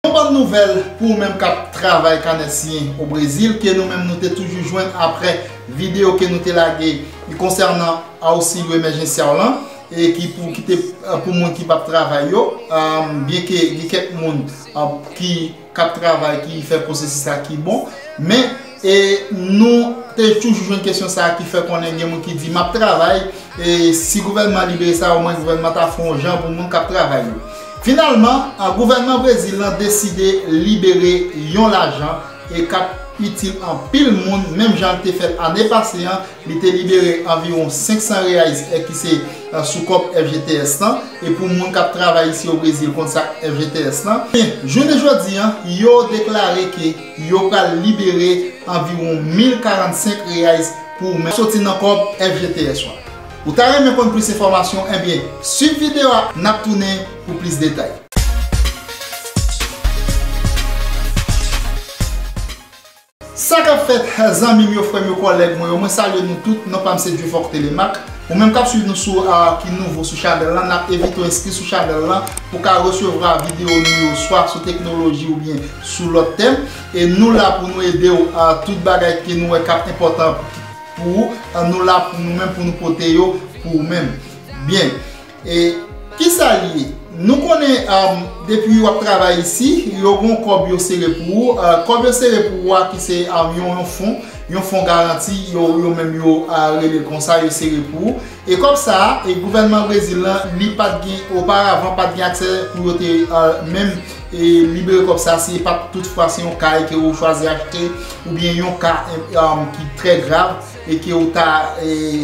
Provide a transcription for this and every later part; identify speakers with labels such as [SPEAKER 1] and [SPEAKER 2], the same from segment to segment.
[SPEAKER 1] Yon bòn nouvèl pou ou menm kap travay kanè siyen o Brezil ke nou menm nou te toujou jwenn aprè video ke nou te lage konsènan Auxilio Emergencial lan e ki pou ki te pou moun ki pap travay yo byen ke gen kèk moun ki kap travay ki fè pwosesis la ki bon men E nou te toujou jwenn kesyon sa a ki fè konnen gen moun ki di, m ap travay, e si gouvènman an libere sa, omwen gouvènman an ta fè yon jan pou moun k ap travay yo. Finalman, gouvènman Brezil lan deside libere yon lajan e k ap itil anpil moun, menm jan l te fè l ane pase an, li te libere anviwon 500 reais è ki se sou kòb FGTS lan, e pou moun k ap travay isi o Brezil konn sa k FGTS lan. Jounen jodi an, yo deklare ke. Yo pral libere anviwon 1045 reais pou ou menm. Soti nan kòb FGTS ou a. Ou ta renmen konn plis enfòmasyon enbyen swiv video a nap tounen pou plis detay. Sa kap fèt zanmim yo frèm yo kòlèg mwen yo mwen salye nou tout non pam se Dieufort Thélémaque ou menm kap swiv nou sou ki nouvo sou chanèl lan nap evite w enskri sou chanèl lan pou ka resevra video nou yo swa sou teknoloji oubyen sou lòt tèm e nou la pou nou ede w a tout bagay ke nou wè k ap enpòtan pou ou a nou la pou nou menm pou nou pote yo pou ou menm byen e kisa l ye nou konnen a depi w ap travay isi yo gon kòb yo sere pou ou a kòb yo sere pou ou a ki se a yon fon yon fon garanti yo menm yo a rele l konsa yo sere pou ou. E kòb sa a, e gouvènman Brezil lan li pat gen oparavan pat gen aksè pou yo te menm e libere kòb sa si e pat tout fwa se yon kay ke ou chwazi achte ou byen yon ka ki trè grav e ke ou ta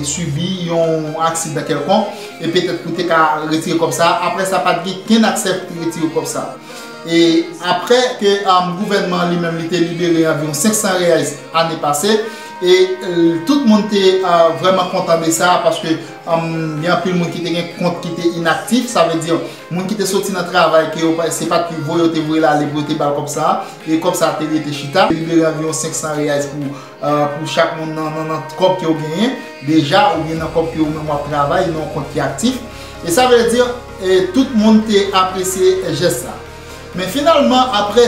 [SPEAKER 1] sibi yon aksidan kèlkonk e petèt pou te ka retire kòb sa a. Aprè sa pat gen kenn aksè pou te retire kòb sa a. E aprè ke gouvènman li menm li te libere anviwon 500 reais ane pase, E tout moun te vrèman kontan de sa paske gen anpil moun ki te gen kont ki te inaktif, sa vle di moun ki te soti nan travay ke yo se pat pi voye yo te voye l ale pou yo te ba l kòb sa a e kòb sa a te rete chita. Te libere anviwon 500 reais pou chak moun nan kòb ke w genyen deja oubyen nan kòb ke ou menm w ap travay nan yon kont ki aktif e sa vle di tout moun te apresye jès sa. Men finalman apre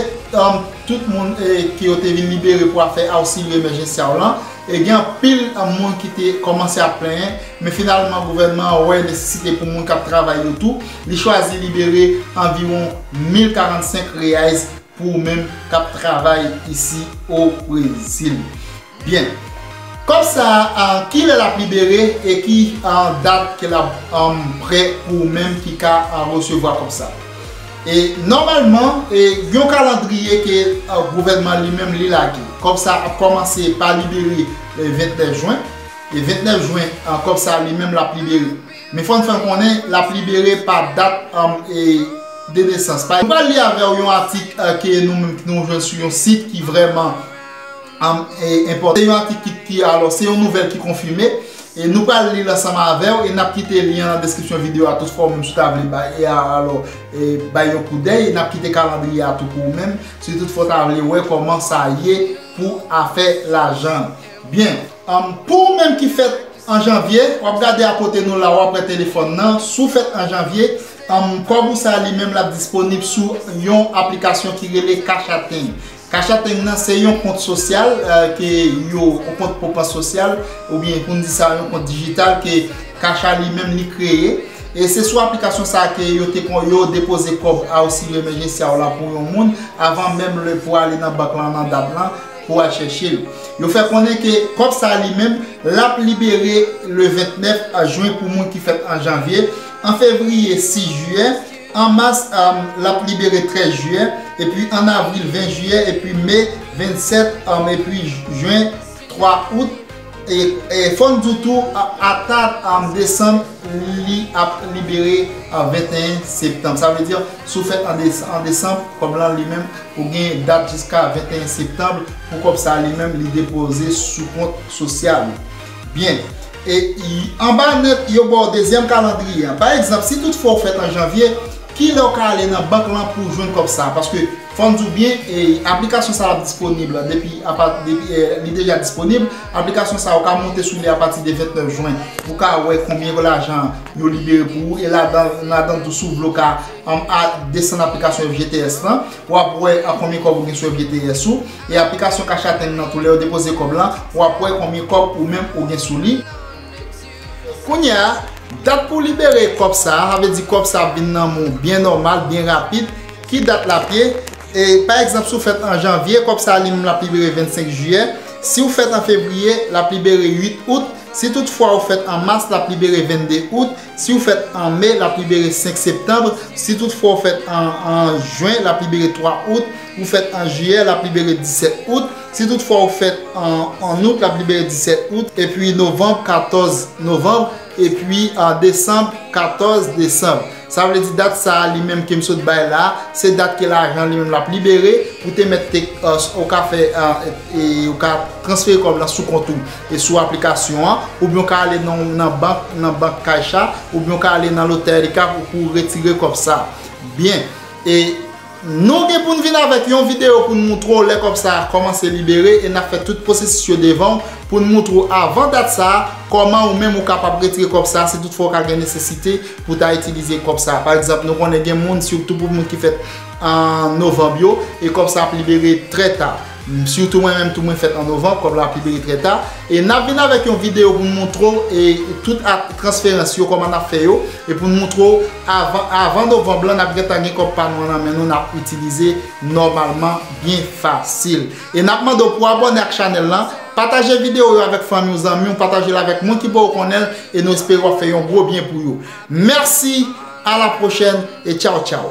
[SPEAKER 1] tout moun ke yo te vin libere pou afè auxilio emergencial lan, e gen anpil moun ki te kòmanse ap plenyen, men finalman gouvènman an wè nesesite pou moun k ap travay yo tou, li chwazi libere anviwon 1045 reais pou ou menm k ap travay isi o Brezil. Byen. Kòb sa a kilè lap libere e ki dat ke lap prè pou ou menm ki ka resevwa kòb sa. E nòmalman e gen yon kalandriye ke gouvènman li menm li lage. Kòb sa ap kòmanse pa libere le 29 jwen e 29 jwen kòb sa li menm lap libere. Men fòn fè konnen lap libere pa dat e de nesans. Mwen pral li avèw yon atik ke nou menm nou jwenn sou yon sit ki vrèman. Am enpòte yon atik ki ki alò se yon nouvèl ki konfime e nou pral li l ansanm avèw e nap kite lyen an nan deskripsyon video a tou fwa ou menm si w ta vle bay e alò e bay yon koudèy nap kite kalandriye a tou pou ou menm si tout fwa w ta vle wè kòman sa ye pou afè lajan an byen am pou ou menm ki fèt an janvye wap gade akote nou la wap wè telefòn nan si w fèt an janvye am kòb ou sa li menm lap disponib sou yon aplikasyon ki rele cash atenn Kachapeng nan se yon kont sosyal ke yo, yon kont pwopans sosyal oubyen pou n di sa yon kont dijital ke Cacha li menm li kreye. E se sou aplikasyon sa a ke yo te kon yo depoze kòb ausilyo emèjensya w la pou yon moun avan menm le pou ale nan bank lan nan dat lan pou al chèche l. Yo fè konnen ke kòb sa a li menm l ap libere le 29 jen pou moun ki fèt an janvye, an fevriye 6 jiyè, An mas, l ap libere 13 jiyè, epi an avril 20 jiyè, epi me 27, epi jen 3 out. E fò n di w tou, ata desanm, li ap libere 21 septanm. Sa vle di, si w fèt an desanm, kòb lan li menm, ou gen dat jiska 21 septanm pou kòb sa li menm li depoze sou kont sosyal ou. Byen. E anba nèt, yo ba w dezyèm kalandriye a. Pa egzanp, si tout fwa ou fèt an janvye, ki lè ou ka ale nan bank lan pou w jwenn kòb sa a? Paske, fò n di w byen, aplikasyon sa a ap disponib depi apa, li deja disponib. Aplikasyon sa a, ou ka monte sou li apati de 29 jwen pou w ka wè konbyen lajan yo libere pou ou. E ladan, ladan tou, si w vle w ka desann aplikasyon FGTS lan, w ap wè konbyen kòb ou gen sou FGTS ou. e aplikasyon cash atm nan tou lèw depoze kòb lan wap wè konbyen kòb ou menm ou gen sou li kounyè a dat pou libere kòb sa sa vle di kòb sa ap vin nan menw byen nòmal byen rapid ki dat lap ye e pa egzanp siw fèt an janvye kòb sa li menm lap libere 25 jiyè siw fèt an fevriye lap libere 8 out si tout fwa ou fèt an mas lap libere 22 out siw fèt an me lap libere 5 septanbre si tout fwa ou fèt an jen lap libere 3 out. Ou fèt an Jiyè, l ap libere 17 Out. Si tout fwa ou fèt an Out, l ap libere 17 Out. Epi Novanb, 14 Novanb. Epi Desanb, 14 Desanb. Sa vle di dat sa a li menm ke m sot bay la a, se dat ke lajan li menm l ap libere. Ou te mèt te, ou ka fè, ou ka transfere kòb lan sou kont ou e sou aplikasyon an. Oubyen ou ka ale nan bank, nan bank Caixa. Oubyen ou ka ale nan Lotérica pou ou retire kòb sa a. Byen. E Nou gen pou n vin avèk yon videyo pou n moutre w lè kòb sa a kòmanse libere e n ap fè tout pwosesis yo devan w pou n moutre w avan dat sa a kòman ou menm ou kapab retire kòb sa a si tout fwa ou ka gen nesesite pou w ta itilize kòb sa a. Pa egzanp, nou konnen gen moun sitou pou moun ki fèt an novanb yo e kòb sa a ap libere trè ta. Surtout mwen menm tou mwen fèt an Novembre kòb la pibliye trè ta e nap vin avèk yon video pou nou montre w e tout ak transferans yo kòman nap fè yo e pou nou montre w avan avan Novembre lan nap gentan gen kòb pa nou an nan men nou nap itilize nòmalman byen fasil e nap mande w pou abòne ak chanèl lan pataje video yo avèk fanmi w zanmi w pataje l avèk moun ki poko konnen l e nou espere wap fè yon gwo byen pou yo mèsi a la pwochèn e tchaw tchaw.